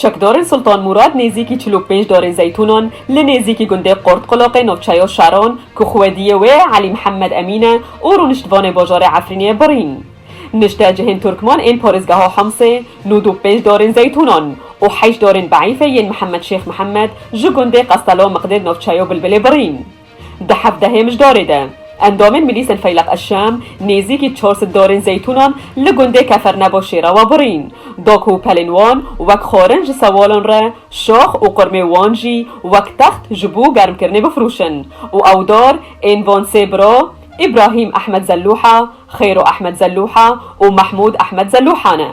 Çekdarên Sultan Mûrad nêzîkî çil û pênc darên zeytûnan li nêzîkî gundê Qortqulaqê navçeya Şaran ku xwediyê wê Elî Mihemed Emîn e û rûniştvanê bajarê Efrînê birîn. Nişte cihên Turkman ên parêzgeha Himsê nûd û pênc darên zeytûnan û heşt darên beîfê yên Mihemed Şêx Mihemed ji gundê Qestela Miqdêd navçeya Bilbilê birîn. Di hevdehê mijdarê de endamên Milîsên Feyleq Eşşam nêzîkî çar sed darên zeytûnan li gundê Keferneboşê re we birîn da ku pelên wan wek xwarin ji sewalan re şax û qurmê wan jî wek text ji bo germkirinê bifirûşin û ew dar ên van sê bira Îbrahîm Ehmed Zelûha, Xêro Ehmed Zelûha û Mehmûd Ehmed Zelûha ne.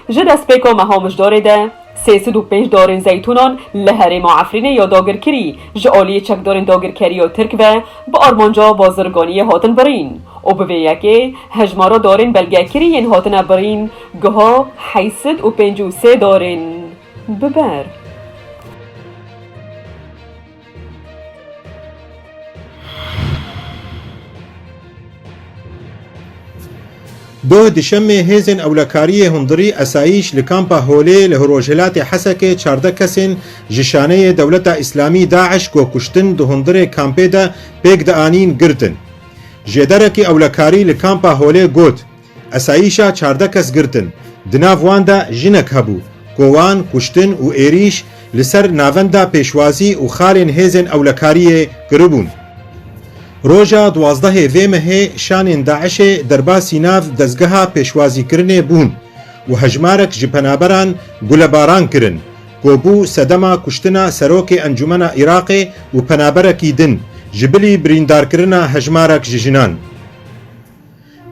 Ji destpêka meha mijdarê de. Sê sed û pênc darên zeytûnan li herêma Efrînê ya dagirkirî ji aliyê çekdarên dagirkerî ya Tirk ve bi armanca bazirganiyê hatin birîn û bi vê yekê hejmara darên belgekirî yên hatine birîn giha heyt sed û pênc û sê darên bi ber. Doh dişemê hêzên ewlekariyê hundirî esayîş li kampa Holê li rojhilatê Hesekê çardeh kesên ji şaneyê dewleta Îslamî DAIŞ ku kuştin di hundirê kampê de pêk dianîn girtin. Jêderekî ewlekarî li kampa Holê got, Esayîşa çardeh kes girtin, di nav wan de jinek hebû, kowan, kuştin û êrîş li ser navenda pêşwazî û xalên hêzên ewlekariyê kiribûn. Roja duwazdehê vê mehê şanên DAIŞ'ê derbasî nav dezgeha pêşwazîkirinê bûn û hejmarek ji penaberan gulebaran kirin, ku bû sedema kuştina Serokê Encûmena Iraqê û penaberekî din, ji bilî birîndarkirina hejmarek ji jinan.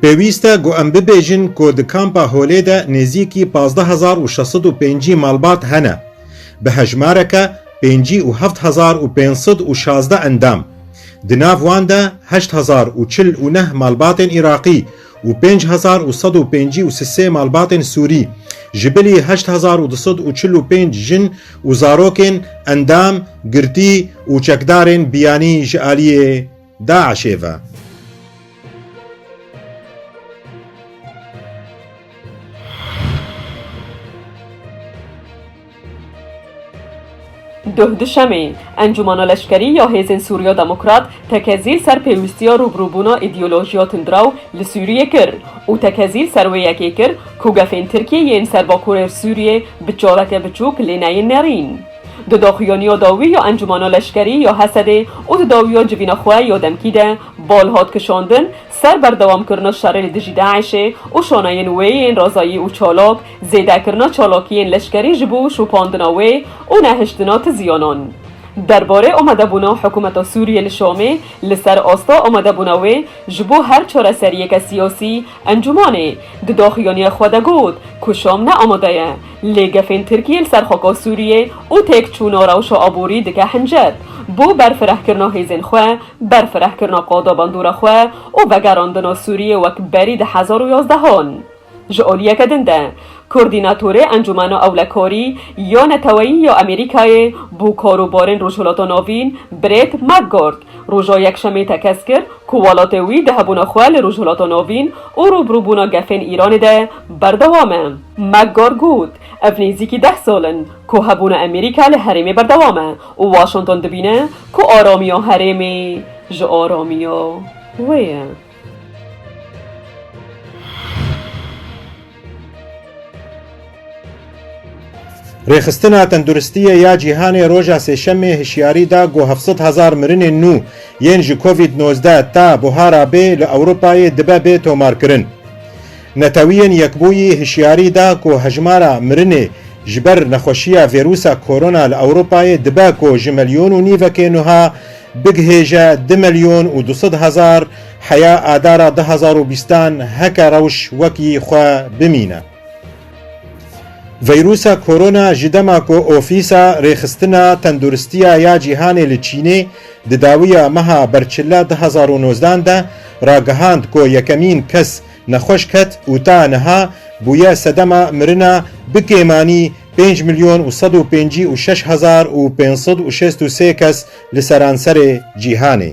Pêwîst e ku em bibêjin ku di Kampa Holê de nêzîkî pazdeh hezar û şeş sed û pêncî malbat hene, bi hejmareke pêncî û heft hezar û pênc sed û şazdeh endam, di nav wan de heşt hezar û çil û neh malbatên Îraqî û pênc hezar û sed û pêncî û sisê malbatên Sûrî, ji bilî heşt hezar û du sed û çil û pênc jin û zarokên endam, girtî û çekdarên biyanî ji aliyê. DAIŞ'ê ve. Duh Duşemê, Encûmana Leşkerî ya Hêzên Sûriya Demokrat tekezîl ser pêwîstiya rûbirûbûna îdeolojiya tundiraw li Sûriyê kir û tekezîl ser wê yekê kir ku gefên Tirkiyeyê yên ser bakurê Sûriyê bi çareke biçûk lê neyên nerîn. Di daxuyaniya dawî ya Encûmena Leşkerî ya Hesedê û di dawiya civîna xwe ya demkî de bal hat kişandin ser berdewamkirina şerê li dijî DAIŞ'ê û şaneyên wê yên razayî û çalak, zêdekirina çalakiyên leşkerî ji bo şopandina wê û nehiştina ti ziyanan. Derbarê amadebûna hikûmeta Sûriyê li Şamê li ser asta amadebûna wê ji bo her çareseriyeke siyasî, Encûmanê di doxuyaniyê xwe de got ku Şam ne amade ye, lê gefên Tirkiyê li ser xaka Sûriyê û têkçûna rewşa aborî dike hincet bo berfirehkirina hêzên xwe, berfirehkirina qada bandora xwe û vegerandina Sûriyê wek berî di hezar û yazdehan. Ji aliyeke din de, kordînatorê Encûmena Ewlekarî ya Neteweyî ya Amerîkayê bo Karûbarên Rojhilata Navîn Brett McGurk, Roja Yekşemê tekez kir ku welatê wî di hebûna xwe li Rojhilata Navîn û rûbirûbûna gefên Îranê de berdewam e. McGahn got, Ev nêzîkî deh sal in ku hebûna Amerîka li herêmê berdewam e û Washington dibîne ku aramiya herêmê ji aramiya wê ye. Rêxistina Tenduristiyê ya Cîhanê roja Sêşemê hişyarî da ku heft sed hezar mirinên nû yên ji Covid nozdeh ta buhara bê li Ewropayê dibe bê tomarkirin. Netewiyên Yekbûyî hişyarî da ku hejmara mirinê ji ber nexweşiya vêrûsa Korona li Ewropayê dibe ku ji milyon û nîvekê nuha bigihêje du milyon û du sed hezar Heya Adara du hezar û bîst an heke rewş wek yî xwe bimîne. Vîrûsa Korona ji dema ku Ofîsa Rêxistina Tenduristiya ya Cîhanê li Çînê di dawiya meha Berçila du hezar û nozdan de ragihand ku yekemîn kes nexweş ket û ta niha bûye sedema mirina bi kêmanî pênc milyon û sed û pêncî û şeş hezar û pênc sed û şêst û sê kes li seranserê cîhanê.